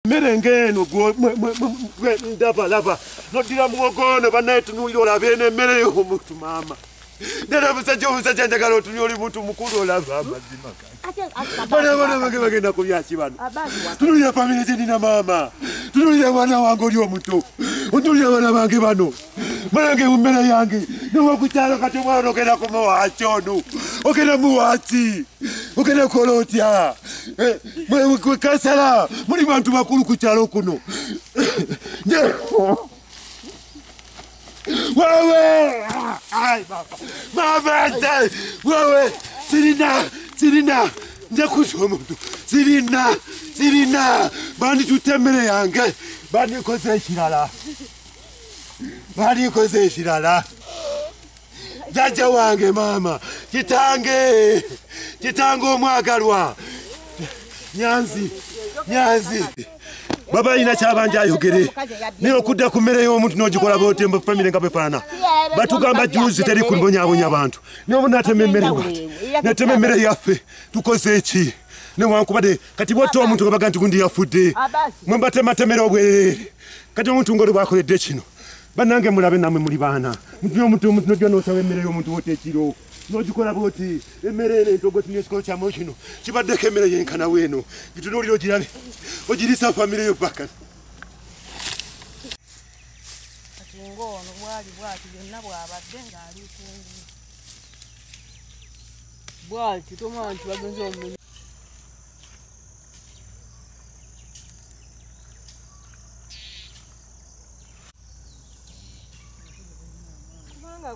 mmere ng'eno ndabalaba noddira muwogo ono banaye tunuulira olaba eno emmere y'omuntu maama nera omusajja omusajja njagala otunya oli muntu mukulu olaba amazima banabanabage bagenda kubyaki bano tunulira famire gyenina maama tunulira abaana wange oli omuto otunulira abaana bange bano Mwanange umbera yange niwo kukyalo kati omwana ogenda kumuwaaki ono ogenda muwaaki ogenda kukola otya eh, kansala muli bantu bakulu ku kyalo kuno wewe mabete wewe sirina sirina njakusa omuntu sirina sirina banditutte emmere yange bandikoze ekirala balikoze ekirala jajja wange maama kitange kitange omwagalwa nyanzi nyanzi baba alina kyabanja ayogere naye okudda ku mmere y'omuntu n'ogikola botemba famire nga bwefaana batugamba juzi teri kubonyabonya bantu naye obu natema emmere wati natema emmere yaffe tukoze eki newankubadde kati bwotta omuntu nga baga nti gundi yafudde ah, mwe mbatematemera obwerere kati omuntu ngaoli bwakoledde kino banange mulabe namwe muli baana mutuna omuntu omuntu nojja nosaba emmere y'omuntu wota ekiro nogikola bwoti emmere eno entogotinesikolo kyamu kino kibaddeko emmere yenkana weeno gitunuulira ogirabe ogirisa famire yo baka ngoono bwali bwati byonna bwabadde ng'ali kungu bwati tomanya nti bagenza omulimu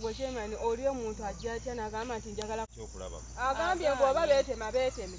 gwe kyemani oli omuntu ajja atya nagamba nti njagala kyokulaba agambye ngu oba betema beteme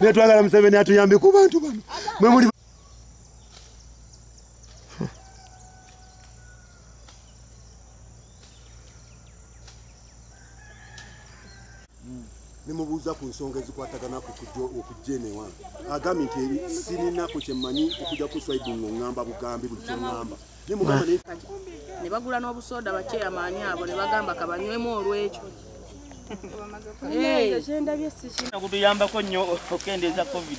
naye twagala museveni atuyambe ku bantu bano mwe muli nemubuuza ku nsonga ezikwatagana okujja eno ewange agambye nti sirinako kyemanyi okuja kuswaibu ngaŋamba bugambi buli kyeŋamba ne bagula n'obusooda bakyeyamaanyi abo ne bagamba kabanywemu olw'ekyo kutuyambako nnyo okendeeza covid